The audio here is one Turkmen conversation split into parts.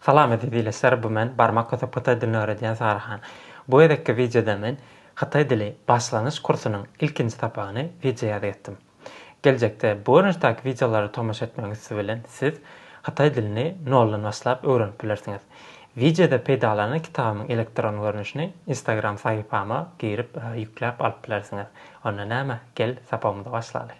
Salam eziz ildeşler bu men barmak kösüp hytaý dilini öwredýän Sary han. Bu gezekki wideoda men hytaý dili başlangyç kursunyň ilkinji sapagyny wideo ýazyp etdim. Geljekde bu görnüşdäki wideolara tomaşa etmegiň üsti bilen siz hytaý dilini noldan başlap öwrenip bilersiňiz. Wideoda peýdalanan kitabymyň elektron görnüşini instagram sahypama girip ýükläp alyp bilersiňiz. Onda näme gel sapagymyza başlaly.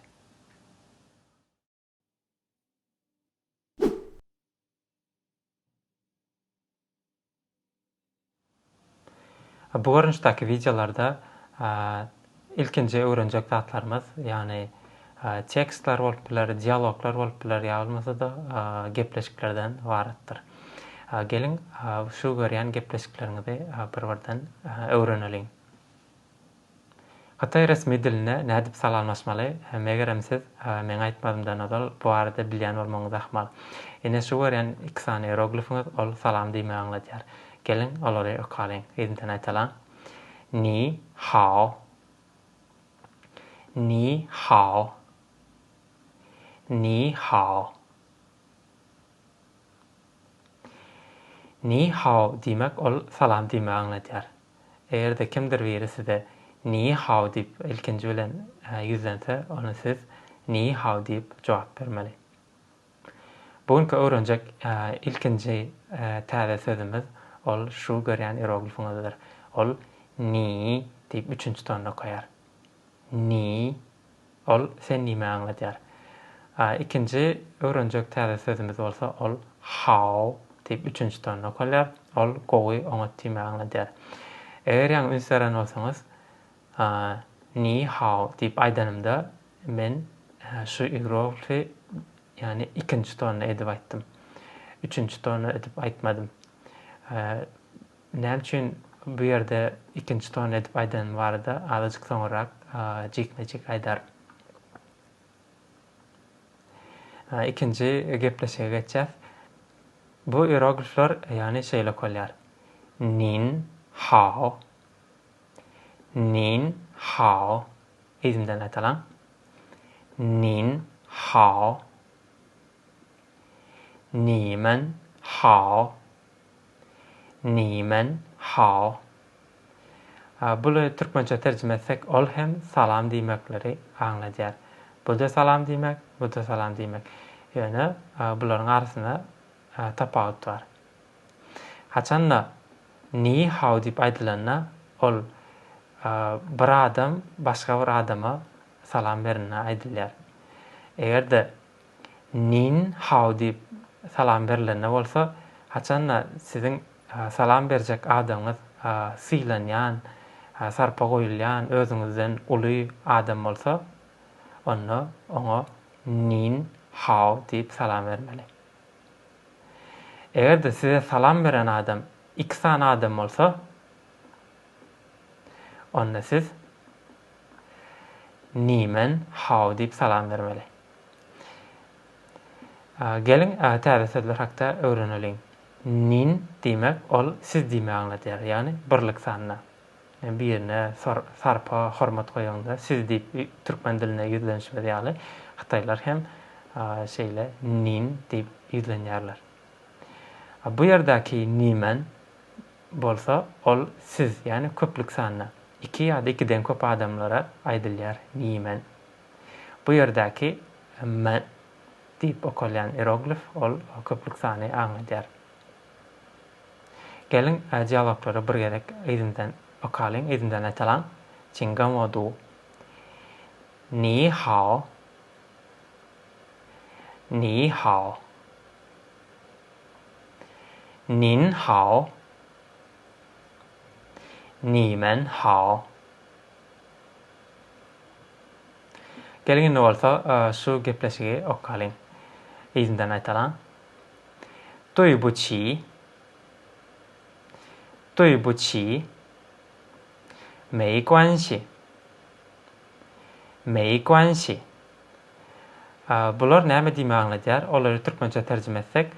Bu görnüşdäki wideolarda ilkinji öwrenjek zatlarymyz, ýagny tekstler bolup biler, dialoglar bolup biler, ýa bolmasa-da gepleşiklerden ybaratdyr. Geliň, şu görýän gepleşikleriňizi bir-birden öwreneliň. Hytaý resmi diline nädip salamlaşmaly? Megerem siz meň aýtmazymdan ozal bu barada bilýän bolmagyňyz ahmal. Ine şu görýän iki sany ieroglifiňiz ol salam diýmegi aňladýar. Geliň, olary okalyň. Yzyndan aýtalyň. Ni hao. Ni hao. Ni hao. Ni hao diýmek ol salam diýmegi aňladýar. Eger-de kimdir biri size Ni hao diýip ilkinji bilen ýüzlense, onda siz Ni hao diýip jogap bermeli. Bu günki öwrenjek ilkinji täze sözümiz ol şu görýän ieroglifiňizdir. Ol Ni diýip üçünji tonda okaýar. Ni. Ol sen nime aňladýar. Ikinji öwrenjek täze sözümiz bolsa ol how diýip üçünji tonda okalýar. Ol gowy, oňat diýmegi aňladýar. Eger ýaňy üns beren bolsaňyz, ni how diýip aýdanymda men şu igroglify ýagny ikinji tonda edip aýtdym. Üçünji tonda edip aýtmadym. Näme üçin bu ýerde ikinji ton edip aýdanym barada azajyk soňurrak jikme-jik aýdaryn. Ikinji gepleşige geçýäs. Bu iroglifler ýagny şeýle okalýar. Nin hao. Nin hao. Yzymdan aýdalaň. Nin hao. Nimen hao. Nimen hal? Buly türkmençe terjime etsek, ol hem salam diýmekleri aňladýar. Bu-da salam diýmek, bu-da salam diýmek. Ýöne bularyň arasynda tapawut bar. Haçan-da, Ni hao diýip aýdylanda, ol bir adam başga bir adama salam berende aýdylýar. Eger-de Nin hao diýip salam berilende bolsa, haçan-da siziň salam berjek adamyňyz sylanýan, sarpa goýulýan, özüňizden uly adam bolsa, onda oňa Nin hao diýip salam bermeli. Eger-de size salam beren adam iki sany adam bolsa, onda siz Ni men hao diýip salam bermeli. Geliň, täze sözler hakda öwreneliň. Nin diýmek, ol siz diýmegi aňladýar, ýagny birlik sanyna. Birine sarpa, hormat goýaňda siz diýip türkmen dilinde ýüzlenişimiz ýaly, hytaýlar hem şeýle nin diýip ýüzlenýärler. Bu ýerdäki nimen bolsa, ol siz, ýagny köplük sanyna, iki ýa-da ikiden köp adamlara aýdylýar nimen. Bu ýerdäki M diýip okalýan ieroglif, ol köplük sany aňladýar. Geliň, dialoglary bir gezek yzyndan okalyň, yzyndan aýtalaň, Çiň gan wo du. Ni hao. Ni hao. Nin hao. Ni men hao. Geliň indi bolsa şu gepleşigi okalyň. Yzyndan aýdalaň. Duý bu çi. Duý bu çi. Mei guanşi. Mei guanşi. Bular näme diýmek aňladýar? Olary türkmençe terjime etsek,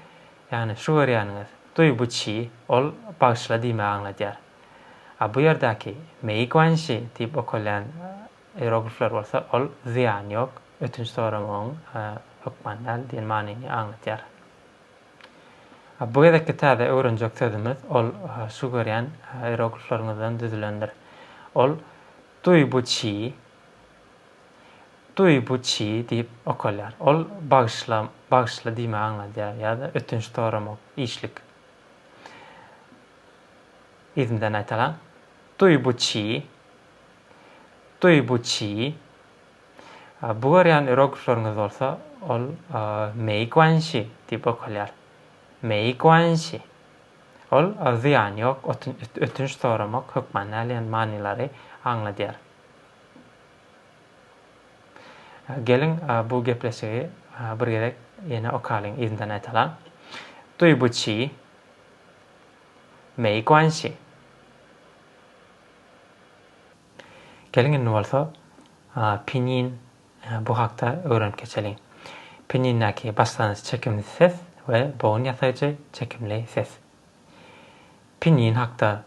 ýagny şu görýäniňiz, duý bu çi, ol bagyşla diýmegi aňladýar. A bu ýerdäki Mei Guanxi diýip okalýan ieroglifler bolsa ol zyýany ýok, ötünç soramagyň hökman däl diýen manyny aňladýar. A bu gezekki täze öwrenjek sözümiz ol şu görýän ieroglifleriňizden düzülendir. Ol Dui bu çi, Dui bu çi diýip okalýar. Ol bagyşla, bagyşla diýmegi aňladýar ýa-da ötünç soramak, işlik. Yzyndan aýtalaň. Duý bu çy. Duý bu çy. Bu görýän ieroglifleriňiz bolsa, ol Mei guan shi diýip okalýar. Mei guan shi. Ol zyýany ýok, ötünç soramak hökmany alýan manylary aňladýar. Geliň, bu gepleşigi bir gezek ýene okalyň, yzyndan aýtalaň. Duý bu çy. 没关系. Geliň indi bolsa Pinyin bu hakda öwrenip geçeliň. Pinyindäki başlangyç çekimli ses we bogun ýasaýjy çekimli ses. Pinyin hakda.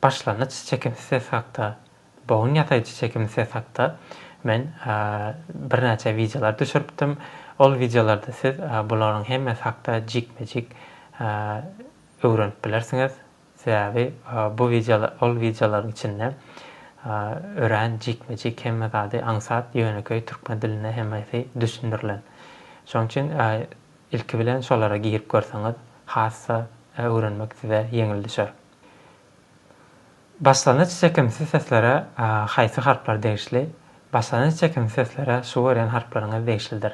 Başlangyç çekim sses hakda Bogun ýasaýjy çekim sses hakda men birnäçe wideolar düşüripdim. Ol wideolarda siz bularyň hemmesi hakda jikme-jik öwrenip bilersiňiz. Sebäbi bu wideolar ol wideolaryň içinde örän jikme-jik hemme zady aňsat ýönekeý türkmen dilinde hemmesi düşündirilen. Şonuň üçin ilki bilen şolara girip görseňiz hassa öwrenmek size ýeňil düşer. Başlangyç çekimsiz seslere haýsy harplar degişli? Başlangyç çekimsiz seslere şu görýän harplaryňyz degişlidir.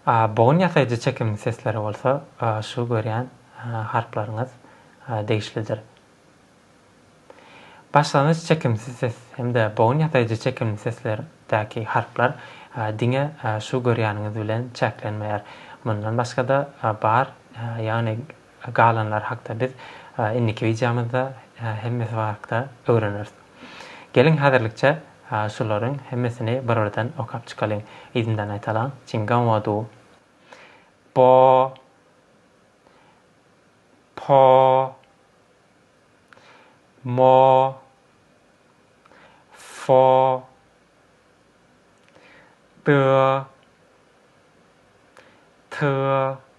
A. Bogun ýasaýjy çekimsiz seslere bolsa şu görýän harplaryňyz degişlidir. Başlangyç çekimsiz ses hem-de bogun ýasaýjy çekimli seslerdäki harplar diňe şu görýäniňiz bilen çäklenmeýär. Mundan başga-da bar, ýagny Galanlary hakda biz indiki wideomyzda hemmesi barkda öwreneris. Geliň häzirlikçe şularyň hemmesini bir-birden okap çykalyň. Yzyndan aýtalaň, Jinganwaduo, Bo, Po, Mo, Fo, Dö, Tö,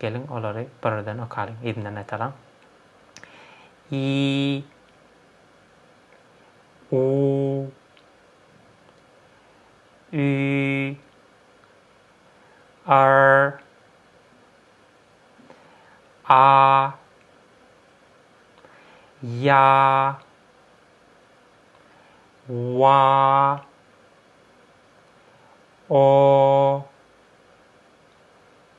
Geliň, olary birden okalyň, yzyndan aýtalyň. I U Ü R A Ýa Wa O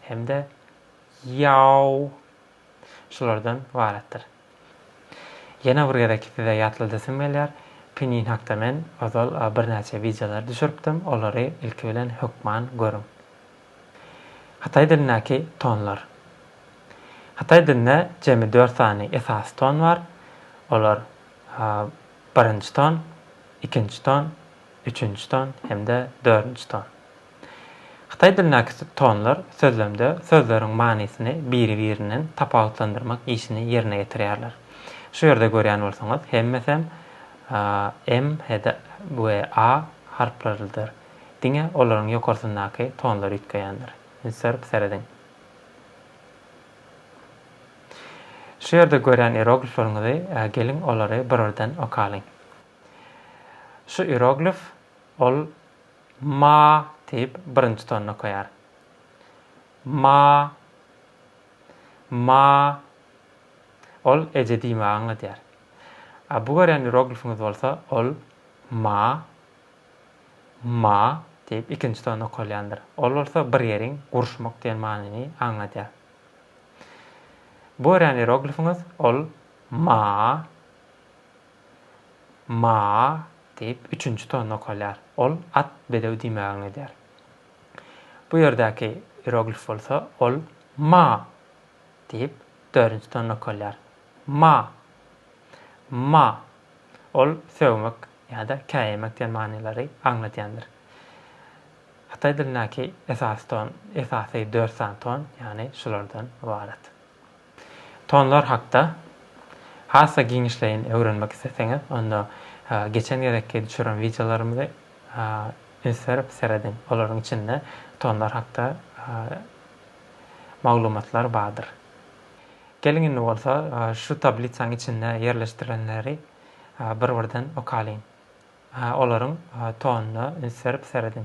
hem-de Ýao şulardan ybaratdyr. Ýene bir gezek size ýatladasym gelýär, Pinyin hakda men ozal birnäçe wideolar düşüripdim, olary ilki bilen hökman görüň. Hytaý dilindäki tonlar. Hytaý dilinde jemi dört sany esasy ton bar, olar birinji ton, ikinji ton, üçünji ton hem-de dördünji ton. Hytaý dilindäki subtonlar sözlemde sözleriň manysyny biri-birinden tapawutlandyrmak işini ýerine ýetirýärler. Şu ýerde görýän bolsaňyz, hemmesem m he-de we a harplarydyr. Diňe olaryň ýokarsyndaky tonlar üýtgeýändir. Ünslenip serediň. Şu ýerde görýän ieroglifleriňizi geliň olary bir-birden okalyň. Şu ieroglif, ol Ma diýip, birinji tony okaýar. Ma. Ma. Ol eje diýmegi aňladýar. A bu görýän ieroglifiňiz bolsa, ol ma. Ma diýip, ikinji tony okalýandyr. Ol bolsa bir ýeriň guruşmak diýen manyny aňladýar. Bu görýän ieroglifiňiz, ol ma. Ma-a! diýip, üçünji ton nokalýar. Ol at, bedew diýmägini edýär. Bu ýerdäki ieroglif bolsa, ol Ma! diýip, dördünji ton nokalýar. Ma! Ma! Ol sögmek ýa-da käýemek diýen manylary aňladýandyr. Hytaý dilindäki esasy ton, esasy dört sany ton, ýagny şulardan ybarat. Tonlar hakda has-da giňişleýin öwrenmek isleseňiz, onda geçen gezekki düşüren wideolarymyzy üns berip serediň. Olaryň içinde tonlar hakda maglumatlar bardyr. Geliň indi bolsa şu tablisaň içinde ýerleşdirilenleri bir-birden okalyň. Olaryň tonuna üns berip serediň.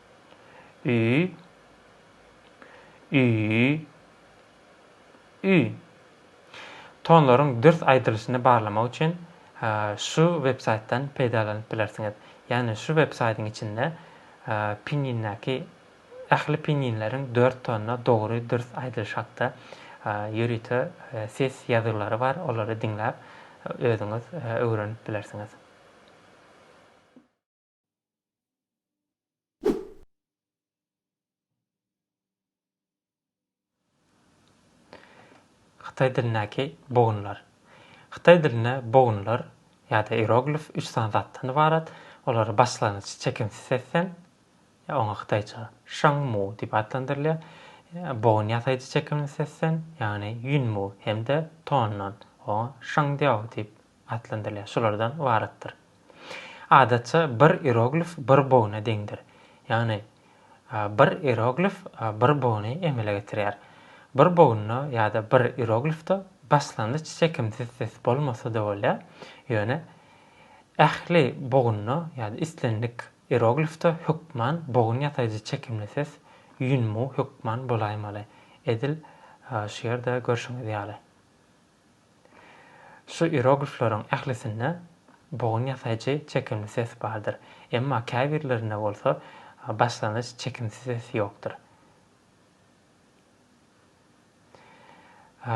Ü Ü Ü Tonlaryň dürs aýdylyşyny barlamak üçin şu websaýtdan peýdalanyp bilersiňiz. Ýagny şu websaýdyň içinde pinýindäki ähli pinýinleriň dört tonyna dogry dürs aýdylyşy hakda ýörite ses ýazgylary bar, olary diňläp özüňiz öwrenip bilersiňiz. Hytaý dilindäki bogunlar. Hytaý dilinde bogunlar ýa-da ieroglif üç sany zatdan ybarat. Olary başlangyç çekimsiz sesden, oňa hytaýça shangmu diýip atlandyrylýar, bogun ýasaýjy çekimli sesden, ýagny ýunmu, hem-de tondan, oňa shangdiao diýip atlandyrylýar, şulardan ybaratdyr. Adatça bir ieroglif bir bogna deňdir. Ýagny bir ieroglif bir bogny emele getirýär. Bir bogunda ýa-da bir ieroglifde başlangyç çekimsiz ses bolmasa-da bolýar, ýöne ähli bogunda ýa-da islendik ieroglifde hökman bogun ýasaýjy çekimli ses, ýunmu, hökman bolaýmaly. Edil şu ýerde görşüňiz ýaly. Şu ieroglifleriň ählisinde bogun ýasaýjy çekimli ses bardyr, emma käbirlerinde bolsa başlangyç çekimsi ses ýokdur.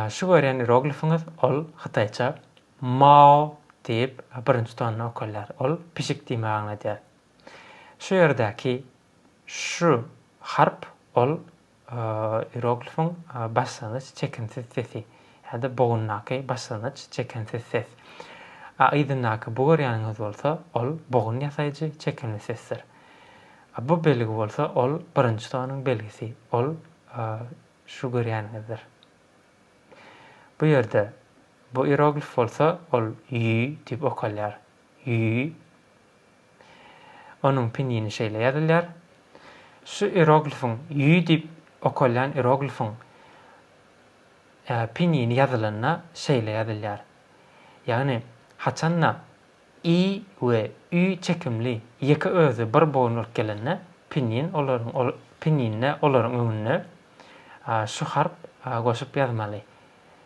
Şu görýän ieroglifiňiz ol hytaýça Mao diýip birinji tonyny okalýar, ol pişik diýmegi aňladýar. Şu ýerdäki şu harp ol Ieroglifiň başlangyç çekimsiz sesi ýa-da bogundaky başlangyç çekimsiz ses. A yzyndaky bu görýäniňiz bolsa, ol bogun ýasaýjy çekimli sesdir. A bu belgi bolsa, ol birinji tonuň belgisi, ol şu görýäniňizdir. Bu ýerde bu ieroglif bolsa, ol ýý diýip okalýar. Ýý. Onuň pinýini şeýle ýazylýar. Şu ieroglifiň, ýý diýip okalýan ieroglifiň pinýini ýazylanda şeýle ýazylýar. Ýagny, haçanda i we ü çekimli ýeke özi bir boýun bolup gelende, pinýin olaryň pinýinde olaryň öňünde şu harp goşup ýazmaly.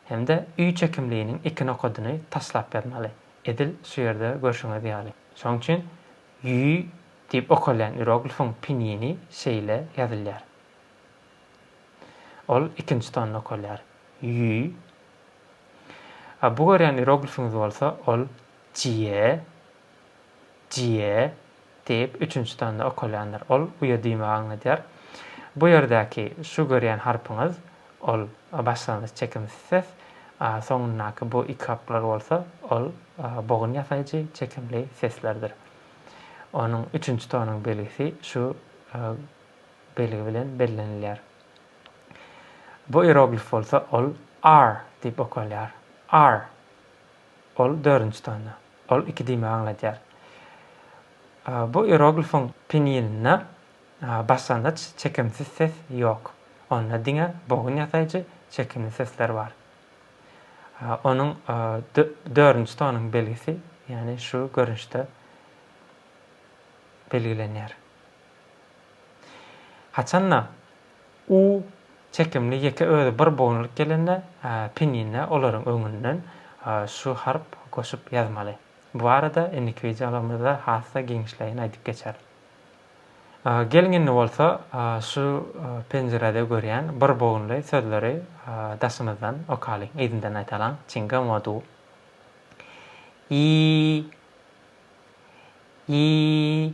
hem-de üý çekimliginiň iki nokadyny taslap ýazmaly, edil şu ýerde görşüňiz ýaly. Şoň üçin Ýüý diýip okalýan ieroglifiň pinýini şeýle ýazylýar. Ol ikinji tonda okalýar. Ýüý. A bu görýän ieroglifiňiz bolsa, ol Jie. Jie, diýip, üçünji tanda okalýandyr. Ol uýa diýmegi aňladýar. Bu ýerdäki şu görýän harpyňyz, ol başlangyç çekimsiz ses, a soňundaky bu iki harplar bolsa, ol bogun ýasaýjy çekimli seslerdir. Onuň üçünji tonuň belgisi şu belgi bilen bellenilýär. Bu ieroglif bolsa, ol ar diýip okalýar. Ar. Ol dördünji tanda. Ol iki diýmegi aňladýar. Bu ieroglifiň pinýininde başlangyç çekimsiz ses ýok. Onda diňe bogun ýasaýjy çekimli sesler bar. Onuň dördünji tonuň belgisi, ýagny şu görnüşde belgilenýär. Haçanda U çekimli ýeke özi bir bolunylyk gelende, pinine olaryň öňünden şu harp goşup ýazmaly. Bu barada indiki wideolarymyzda has-da giňişleýin aýdyp geçeris. Geliň indi bolsa şu penjirede görýän bir bogunly sözleri daşymyzdan okaly, yzyndan aýdalyň, çinga modu. Ýi. Ýi.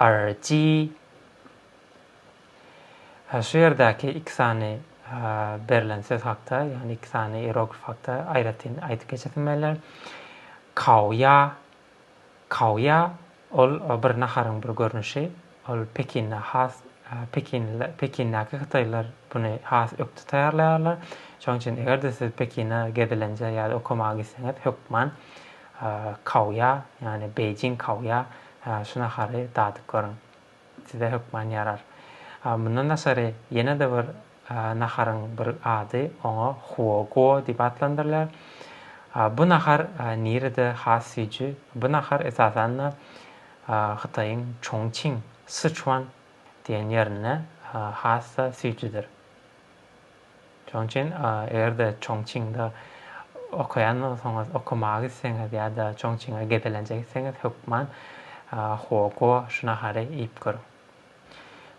RG Şu ýerdäki iki sany berlen söz hakda, ýagny iki sany ieroglif hakda aýratyn aýdyp geçesim gelýär. Kaoýa, kaoýa ol bir naharyň bir görnüşi. Ol Pekinde has Pekin Pekindäki hytaýlar buny has ökde taýýarlaýarlar. Şonuň üçin eger-de siz Pekine gezelenje ýa-da okamaga gitseňiz hökman Kaoýa, ýagny Beýjing kaoýa, şu nahary dadyp görüň. Size hökman ýarar. Mundan daşary, ýene-de bir naharyň bir ady, oňa huo guo diýip atlandyrylýar. Bu nahar nirede has süýji? Bu nahar esasan-da Hytaýyň Çongçing, Syçuan, diýen ýerinde has-da süýjüdir. Şonuň üçin eger-de Çongçingde okaýan bolsaňyz, okamaga gitseňiz ýa-da Çongçinge gezelenje gitseňiz, hökman Huoguo şu nahary iýip görüň.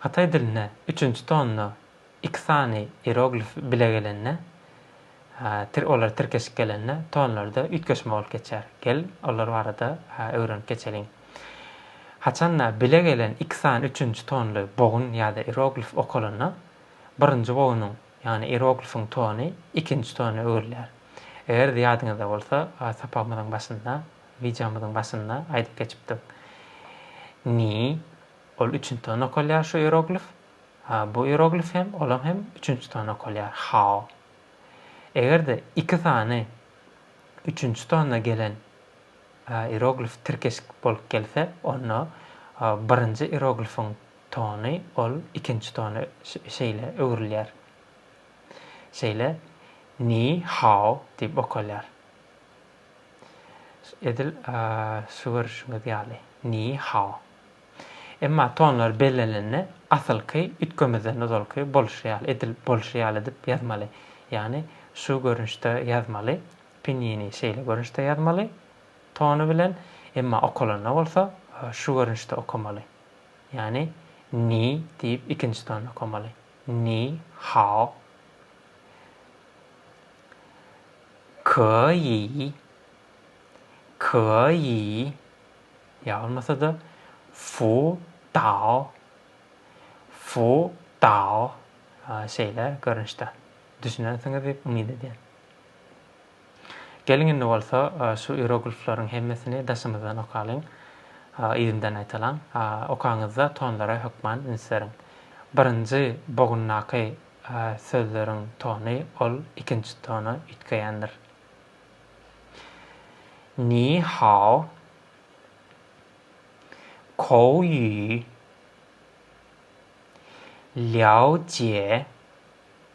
Hytaý dilinde üçünji tonda iki sany ieroglif bile gelende, olar tirkeşip gelende tonlarda üýtgeşme bolup geçýär. Gel, olar barada öwrenip geçeliň. Haçanda bile gelen iki sany üçünji tonly bogun ýa-da ieroglif okalanda, birinji boýnuň, ýagny ieroglifiň tony ikinji tona öwrülýär. Eger-de ýadyňyzda bolsa, sapagymyzyň başynda, wideomyzyň başynda aýdyp geçipdik. Ni, ol üçünji tona okalýar şu ieroglif. Bu ieroglif hem, olam hem üçünji tona okalýar, hao. Eger-de iki sany üçünji tona gelen ieroglif tirkeşik bolup gelse, onda birinji ieroglifiň Tony, ol ikinji tony şeýle öwrülýär. Şeýle Ni hao diýip okalýar. Edil şu görüşiňiz ýaly, Ni hao. Emma tonlar bellenilende asylky üýtgemezden ozalky bolşy ýaly, edil bolşy ýaly edip ýazmaly. Ýagny şu görnüşde ýazmaly, pinýini şeýle görnüşde ýazmaly tony bilen, emma okalanda bolsa şu görnüşde okamaly. Ýagny Ni diýip ikinji tony okamaly. Ni hao. Ke yi. Ke yi. Ýa bolmasa-da Fu dao. Fu dao. Şeýle görnüşde. Düşünensiňiz diýip umyt edýän. Geliň indi bolsa şu ieroglifleriň hemmesini daşymyzdan okalyň. Yzyndan aýtalyň. Okaňyzda tonlara hökman üns beriň. Birinji bogundaky sözleriň tony ol ikinji tona üýtgeýändir. Ni hao, kou ýu, lýao jie,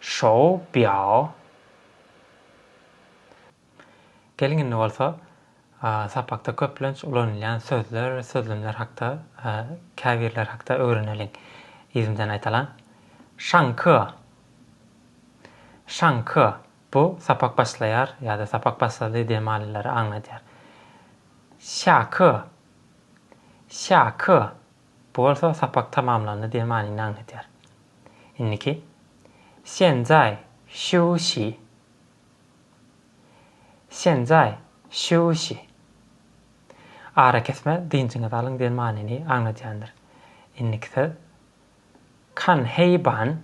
Şou biao. Geliň indi bolsa sapakda köplenç ulanylýan sözler, sözlemler hakda käbirleri hakda öwreneliň. Yzymdan aýdalan. Şangke. Şangke. Bu sapak başlaýar ýa-da sapak başlady diýen manylary aňladýar. Şake. Şake. Bu bolsa sapak tamamlandy diýen manyny aňladýar. Indiki, Senzai şiusi. Senzai şiusi. Arakesme, dynjyňyzy alyň diýen manyny aňladýandyr. Indiki söz, Kan hei ban.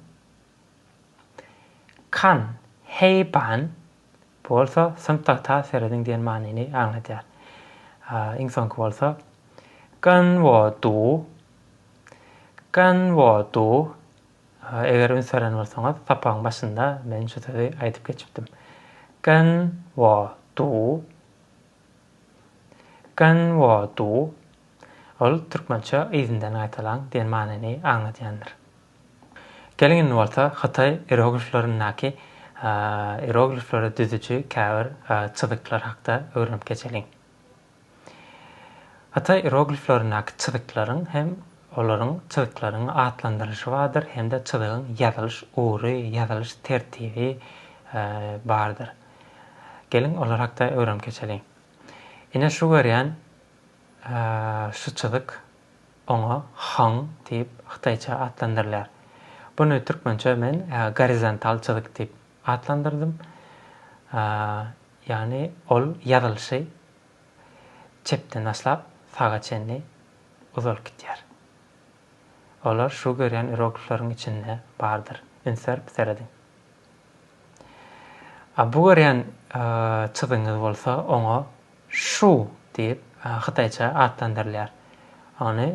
Kan hei ban. Bu bolsa synpda tas serediň diýen manyny aňladýar. Iň soňky bolsa, Gan wo du, gan wo du. Eger üns beren bolsaňyz, sapagyň başynda men şu sözi aýdyp geçipdim. Gan wo du, gan wo du. Ol türkmençe yzyndan gaýtalaň diýen manyny aňladýandyr. Geliň indi bolsa hytaý ierogliflerindäki ieroglifleri düzüji käbir çyzyklar hakda öwrenip geçeliň. Hytaý ierogliflerindäki çyzyklaryň hem olaryň çyzyklaryň atlandyrylyşy bardyr hem-de çyzygyň ýazylyş ugry, ýazylyş tertibi bardyr. Geliň olar hakda öwrenip geçeliň. Ine şu görýän şu çyzyk. Oňa Hong diýip hytaýça atlandyrylýar. Buny türkmençe men gorizontal çyzyk diýip atlandyrdym. Ýagny ol ýazylyşy çepden başlap saga çenli uzalyp gidýär. Olar şu görýän iroglifleriň içinde bardyr. Üns berip serediň. A bu görýän çyzygyňyz bolsa oňa Shu diýip hytaýça atlandyrylýar. Ony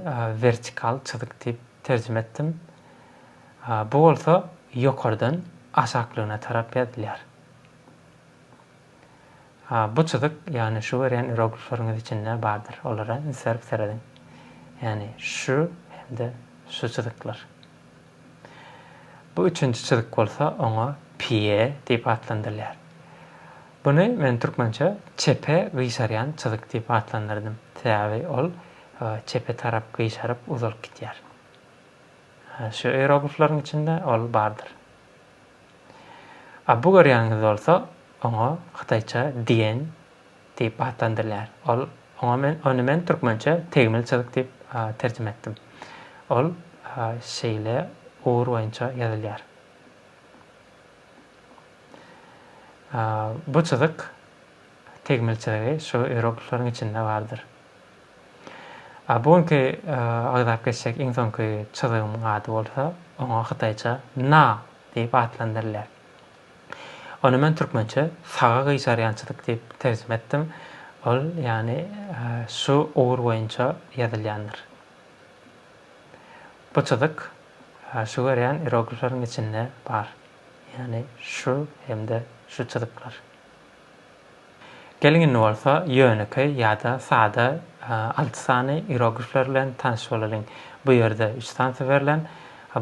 wertikal çyzyk diýip terjime etdim. Bu bolsa ýokardan aşaklygyna tarap ýazylýar. Bu çyzyk ýagny şu görýän iroglifleriňiz içinde bardyr. Olara üns berip serediň. Ýagny şu hem-de şu çyzyklar. Bu üçünji çyzyk bolsa oňa pie diýip atlandyrylýar. Buny men türkmençe çepe gyşarýan çyzyk diýip atlandyrdym. Sebäbi ol çepe tarap gyşaryp uzalyp gitýär. Şu ieroglifleriň içinde ol bardyr. A bu görýäniňiz bolsa oňa hytaýça diýen Diýip atlandyrylýar. Ol, oňa men, ony men türkmençe tegmil çyzyk diýip terjime etdim. Ol şeýle ugur boýunça ýazylýar. Bu çyzyk, tegmil çyzygy şu ieroglifleriň içinde bardyr. Bu günki agzap geçjek iň soňky çyzygymyň ady bolsa, oňa hytaýça Na diýip atlandyrylýar. Ony men türkmençe saga gyşarýançylyk diýip terjime etdim. Ol, ýagny, şu ugur boýunça ýazylýandyr. Bu çyzyk şu görýän ieroglifleriň içinde bar. Ýagny şu hem-de şu çyzyklar. Geliň indi bolsa ýönekeý ýa-da sada alty sany ieroglifler bilen tanyş bolalyň. Bu ýerde üç sansa berlen.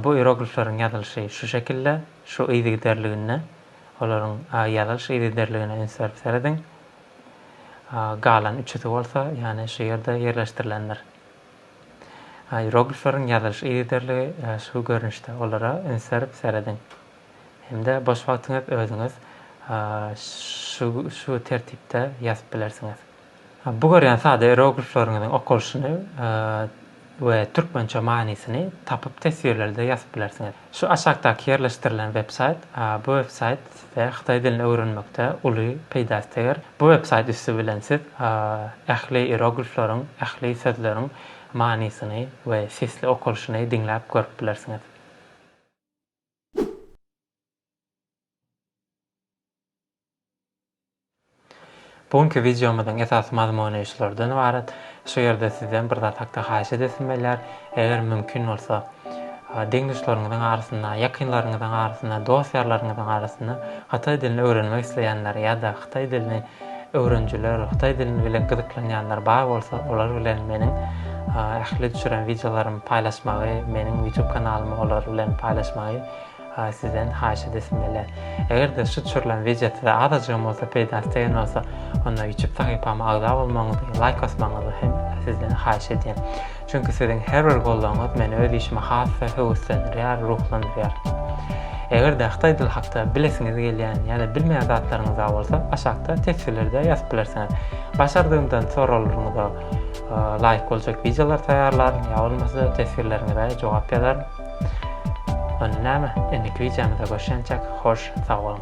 Bu ieroglifleriň ýazylyşy şu şekilde, şu yzygiderliginde. Olaryň ýazylyş yzygiderligine üns berip serediň. Galan üçüsi bolsa, ýany şu ýerde ýerleşdirilendir. Ieroglifleriň ýazylyş yzygiderligi şu görnüşde. Olara üns berip serediň. Hem-de boş wagtyňyz özüňiz şu tertipde ýazyp bilersiňiz. Bu görýän sada eroglifleriňiziň okalyşyny we türkmençe manysyny tapyp teswirlerde ýazyp bilersiňiz. Şu aşakdaky ýerleşdirilen websaýt bu websaýt size hytaý dilini öwrenmekde uly peýdasy teger. Bu websaýt üsti bilen siz ähli eroglifleriň, ähli sözleriň manysyny we sesli okalyşyny diňläp görüp bilersiňiz. Bu günki wideomyzyň esasy mazmuny şulardan ybarat. Şu ýerde sizden bir zat hakda haýyş edesim gelýär. Eger mümkin bolsa, deň-duşlaryňyzyň arasynda, ýakynlaryňyzyň arasynda, dost-ýarlaryňyzyň arasynda hytaý dilini öwrenmek isleýänler ýa-da hytaý dilini Öwrenijiler, hytaý dili bilen gyzyklanýanlar bar bolsa olar bilen meniň ähli düşüren wideolarymy paýlaşmagy, meniň YouTube kanalymy olar bilen paýlaşmagy sizden haýyş edesim gelýär. Eger-de şu düşürilen wideo size azajygam bolsa peýdasy degen bolsa onda YouTube sahypama agza bolmagyňyzy, laýk basmagyňyzy hem sizden haýyş edýän. Çünki siziň her bir goldawyňyz meni öz işime has-da höweslendirýär, ruhlandyrýar. Eger-de Hytaý dili hakda bilesiňiz gelýän ýa-da bilmeýän zatlaryňyz bar bolsa, aşakda teswirlerde ýazyp bilersiňiz. Başardygymdan soraglaryňyza laýyk boljak wideolar taýýarlaryn, ýa bolmasa teswirleriňize jogap ýazaryn. Onda näme, indiki wideomyza görşençek, hoş sag boluň!